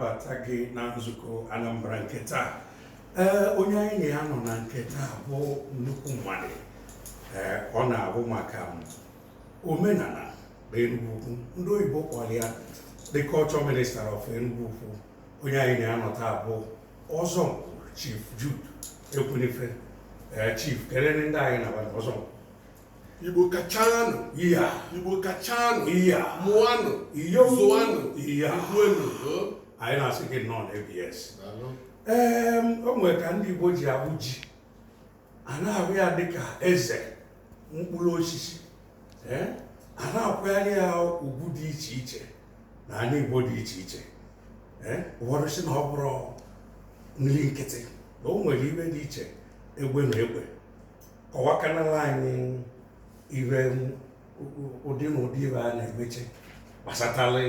bata gị na nzukọ Anambra nke taa ee onye anyị na ya nọ na nke taa bụ nnukwu mmadụ ee ọ na-ahụ maka omenala na Enugwu Ukwu ndị oyibo kpọrọ ya the culture minister of Enugwu Ukwu onye anyị na ya nọ taa bụ Ọzọnkpu Chief Jude Ekwunife ee Chief keleenụ ndị anyị na-abata Ọzọnkpu igbo kachanụ iya igbo kachanụ iya mụanụ iyo zụanụ iya ikwuenụ anyị na-asị gị nnọọ na ABS ee o nwere ka ndị igbo ji ahụ ji a na-ahụ ya dịka eze mkpụrụ osisi ee a na-akwanyere ya ugwu dị iche iche na ala igbo dị iche iche ee ụfọdụ sị na ọ bụrọ nri nkịtị na o nwere ive dị iche egbe na egbe kọwakanala anyị ive ụdị na ụdị ive a na-emecha gbasatara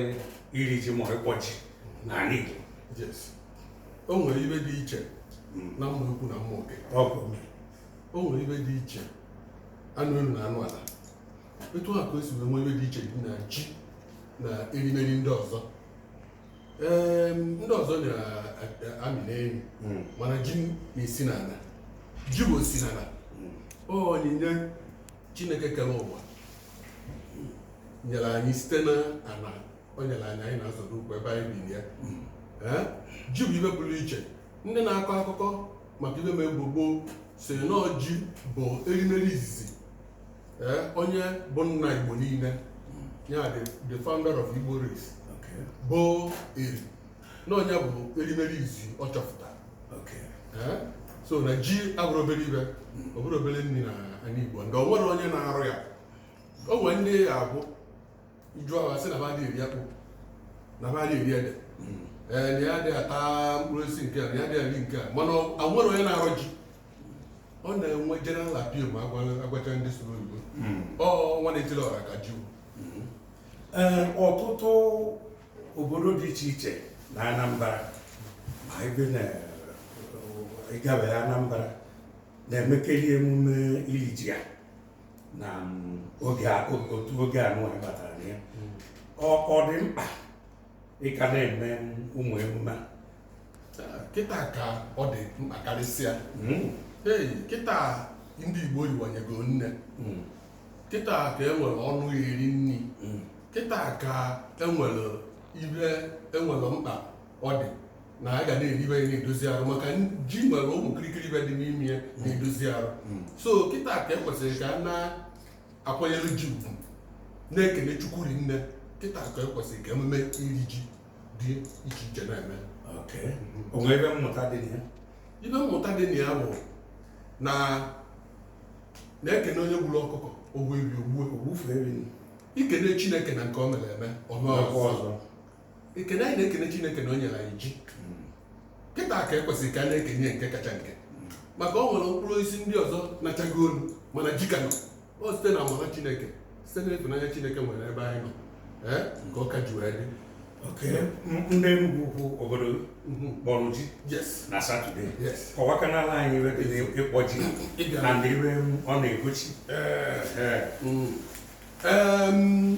iri ji ma ịkpọ ji n'ala Igbo yes o nwere ive dị iche hmm. na mma ukwu na mma oke o nwere ive dị iche anụ elu na anụ ala etu a ka o si wee nwee ive dị iche dị na ji na erimeri ndị ọzọ ndị ọzọ na-amị n'elu hmm. mana ji na-esi n'ala ji bụ osi n'ala hmm. onyinye chineke kere ụwa nyere anyị site na ala o nyere anyị anyị na-azọrọ ụkwụ ebe anyị bi ya hmm. eh? ji bụ ive pụrụ iche ndị na-akọ akụkọ maka ive mere gboo gboo sị na ọ ji bụ erimeri izizi ee onye bụ nna igbo niile ya bụ the founder of igbo race Okay. bụ Eri na ọ nya bụ erimeri izi ọ chọpụtara Okay. Ee, so na ji abụrọ obere ive ọ bụrọ obere nri na ala igbo ndị o nwerọ onye na-arọ ya o nwere ndị ya abụ ị jụọ ha asị na ha adịghị eri akpụ na ha adịghị eri ede ee na ya adịghị ata mkpụrụ osisi nke a na ya adịghị eri nke a mana o nwerọ onye na-arọ ji ọ na-enwe general appeal ma agwa- agwacha ndị sụrụ oyibo ọ nwa na-etiri ọra ka ji Ee, ọtụtụ obodo dị iche iche na Anambra ma ebe na ịgabeghị Anambra na-emekarị emume iri ji a na mm, oge a- o- otu oge a nụwa batara na ya Mm. ọ ọ dị mkpa ị ka na-eme ụmụ emume a kịta ka ọ dị mkpa karịsịa Mm, ei kịta ndị igbo yiwanyego nne mm, kịta ka e nwere ọnụ eri nri mm. kịta ka enwere ive enwere mkpa ọ dị na a ga na-eri ife na-edozi arụ maka ji nwere ụmụ kirikiri ife dị n'ime ya na-edozi arụ hmm. so kịta ka ekwesịrị ka a na-akwanyere ji ugwu na-ekele chukwu rinne kịta ka ekwesịrị ka emume iri ji dị iche iche na-eme o nwee ife mmụta dị na ya ife mmụta dị na ya bụ na e kene onye gburu ọkụkọ o gbuo efi o gbuo e kene chineke na nke o mere eme o mee ọzọ ekene anyị na-ekene chineke na o nyere anyị ji kịta ka ekwesịrị ka a na-ekene ya nke kacha nke maka o nwere mkpụrụ osisi ndị ọzọ nachago olu mana ji ka nọ ọ site na amara chineke site na ịfụnanya chineke nwere ebe anyị nọ ee ka ọ ka ji wee dị oke m- ndị Enugwu ukwu obodo Mhm. kpọrọ ji yes na satọde yes kọwakanala anyị ife dị n'ịkpọ ji Ịbịa. na ndị ife ọ na-egosi Ee. Ee. Mm. Em,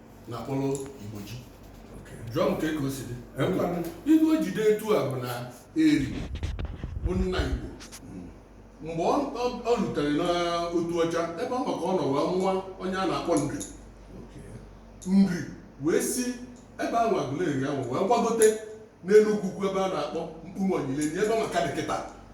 na akpọrọ igbo ji jụọ m kee ka o si dị ife o ji dị etu a bụ na eri bụ nna igbo mgbe o rutere n'Otuọcha ebe nwa ka ọ nọ wee mụa onye a na-akpọ nri nri wee si ebe ahụ agụleri ahụ wee gbagote n'Enugwu ukwu ebe a na-akpọ mkpume onyilenyi ebe nwa ka dị kịta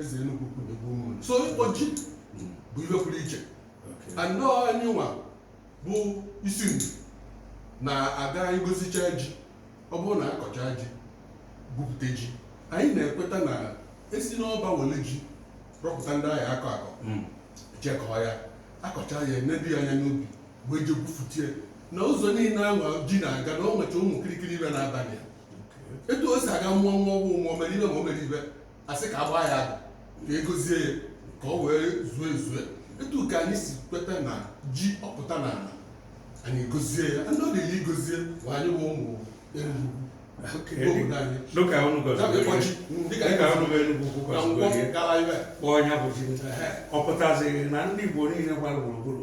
eze Enugwu ukwu na igwe Ụmụnri so ịkpọ ji bụ ife pụrụ iche na ọ anyịnwa bụ isi Nri na-aga igozicha ji ọ bụrụ na akọcha ji gwupụta ji anyị na-ekweta na esi n'ọba wele ji rọpụta ndị a ya-akọ akọ hmm. jekọọ ya akọcha ya enedo ya anya n'ubi wee je gwufutie na ụzọ niile ahụ ji na-aga na o nwecha ụmụ kirikiri ife na-adị aga etu o si aga mmụọ nwa ọgwụ mmụọ mere ife ma o mere ife asị ka agbaa ya ka egozie ya ka ọ wee zuo ezue etu ka anyị si kweta na ji ọ pụta na ala anyị egozie ya ndị ọ dịrị igozi ya bụ anyị wụ ụmụ Enugwu obodo anyị dịka unu ga Enugwu kpọọ ya bụ ji ọ pụtazie na ndị Igbo niile gbara gburugburu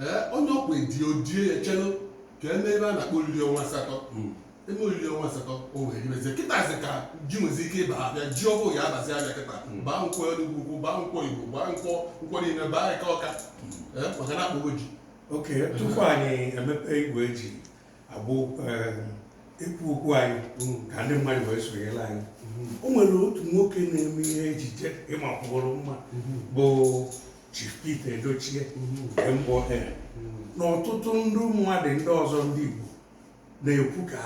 ee onye ọ ka edi o die ya chelụ ka e mee ife a na-akpọ oriri ọnwa asatọ e mee oriri ọnwa asatọ o wee ribezie kịtazi ka ji nwezi ike ịba afịa ji ọhụụ ya abazie afịa kịta baa nkwọ enugwu ukwu baa nkwọ igbo baa nkwọ nkwọ niile baa eke ọka ee maka na akpọgo ji okay tupu anyị emepe igwe ji abụ ekwu okwu anyị mm. ka ndị mmadụ wee sonyere anyị mm-hmm. o nwere otu nwoke na-eme ihe ejije ịmakwụrụ mma mm-hmm. bụ Chief Pete Edochie mm-hmm. MON na ọtụtụ ndị mmadụ ndị ọzọ ndị Igbo na-ekwu ka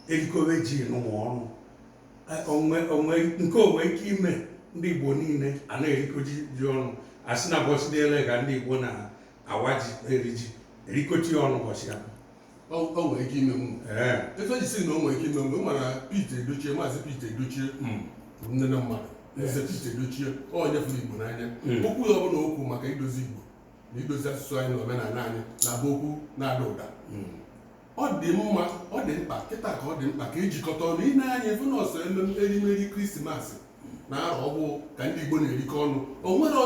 e rikọwe ji nụnwa ọnụ nke o nwe ike ime ndị Igbo niile a na-erikọ ji ọnụ asị na ụbọsị dị ele ka ndị Igbo na awa ji eri ji erikọta ya ọnụ ụbọchị ya o nwere ike ime mụ ee ife m ji sị na o nwere ike ime mgbe mara Pete Edochie maazị Pete Edochie mm, bụ nne na mmadụ eze Pete Edochie onye fụrụ Igbo n'anya Mm. okwu ya ọbụla okwu maka idozi Igbo na idozi asụsụ anyị na omenala anyị na-abụ okwu na-ada ụda mm. ọ dị mma ọ dị mkpa kịta ka ọ dị mkpa ka ejikọta ọnụ ị nee anya ị fụ na ọ sọ ememe erimeri krismasị na arọ ọhụụ ka ndị igbo na-erikọ ọnụ o nwere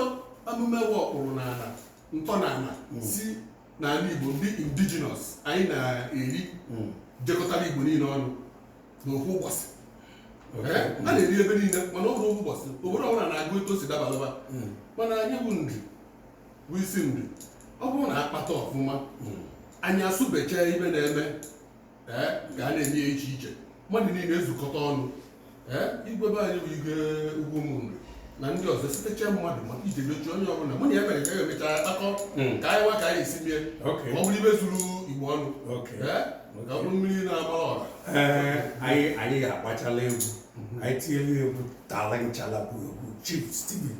emume nwe ọkpụrụ n'ala ntọnala si n'ala igbo ndị indigenous anyị na-eri jikọtara igbo niile ọnụ n'ofu ụbọchị Ee, a na-eri ebe niile mana ọ bụrọ ofu ụbọchị obodo ọbụla na-agụ etu o si dabara fa mana anyị bụ Nri bụ isi ndị ọ bụrụ na a kpata ọfụma hmm. anyị asụbecha ibe na-eme eh, ga a na-eme ya iche iche mmadụ niile ezukọta ọnụ eh, igwe be anyị bụ igwe ugwu Ụmụnri na ndị ọzọ sitecha mmadụ maka ije mechi onye ọbụla mụ na ya mere ka ya emecha akọ hmm. ka anyị nwa ka anyị esi mee ọ bụrụ ife zuru igbo ọnụ eh, ka ọ bụrụ mmiri na-ama ọra anyị ga-agbachala egwu mhm. anyị tinyela egwu tala nchalabu egwu chief Stephen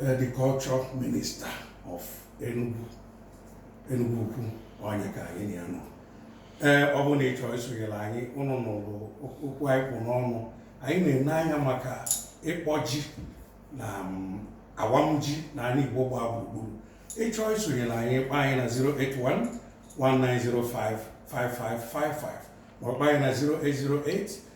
Eh, the culture minister of Enugu Enugu Ukwu ọ nya ka anyị na ya nọ ee eh, ọ bụ na ị chọrọ isonyere anyị unu nụrụ okwu anyị kpụ n'ọnụ anyị na-ene anya maka ịkpọ ji na mm, awam ji na ala Igbo gbaa gburugburu ị chọọ isonyere anyị kpọọ anyị na 081 1905 5555 ma ọ kpọọ anyị na 0808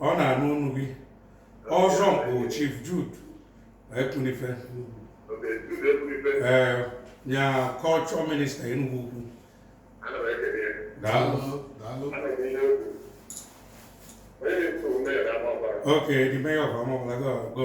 ọ na-anụ onu gị ọzọ mkpụ Chief Jude Ekwunife ee nya culture minister Enugu Ukwu daalụ Okay, the mayor of Amawbia, go, go.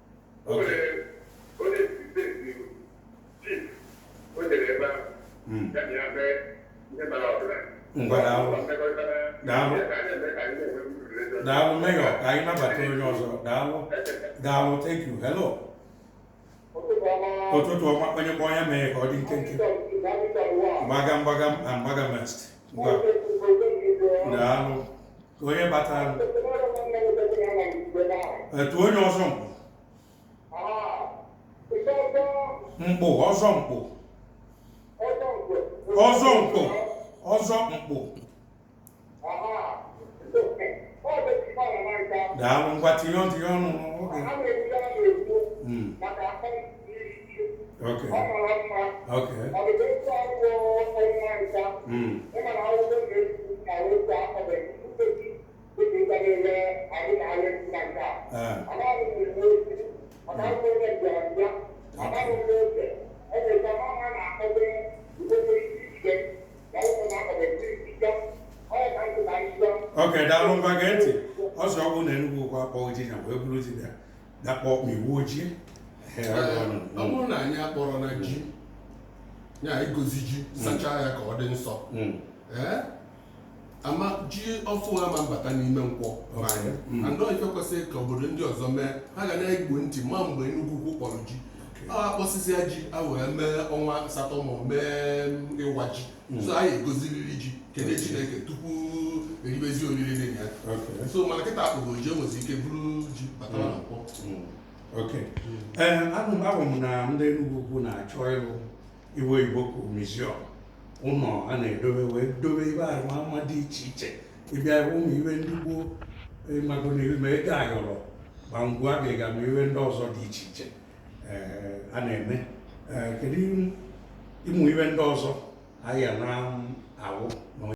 daalụ mayor ka anyị nabata onye ọzọ daalụ daalụ thank you hello ụtụtụ ọma onye kpọọ ya mee ka ọ dị nkenke mgbaga mgbaga mgbaga mest ngwa daalụ ka anyị nabata onye ọzọ mkpụ mkpụ ọzọ mkpụ ọzọ mkpụ ọzọ mkpụ daalụ ngwa tinye ọnụ tinye ọnụ n'oge Mm. Okay. Okay. Mm. okay daalụ ngwa gee ntị ọsọ ọgwụ na Enugwu ukwu akpọghị ji ya wee buru ji ya dakpọ iwu ojii ọ bụrụ na anyị akpọrọ na ji ya igozi ji sachaa ya ka ọ dị nsọ hmm. ama ji ọfụụ ama abata n'ime Nkwọ hmm. and ọ ife kwesịrị ka obodo ndị ọzọ mee ha ga na-ege ntị ma mgbe Enugwu ukwu kpọrọ ji a kpọsịsịa ji e wee mee ọnwa asatọ ma mee ịwa ji hmm. so anyị egoziriri ji kene chineke tupu eribezi oriri dị ya so mana kịta akpọgo ji e nwezi ike buru ji bata na Nkwọ okay anụ m abụ m na ndị Enugwu ukwu na-achọ ịlụ ife Igbo ka museum ụlọ a na-edobe wee dobe ife arụmama dị iche iche ị bịa ụmụ ife ndị gboo ịmago na ego ayọrọ ma ngwa ga-ega ma ife ndị ọzọ dị iche iche a na-eme kedu ụmụ ife ndị ọzọ anyị na-afụ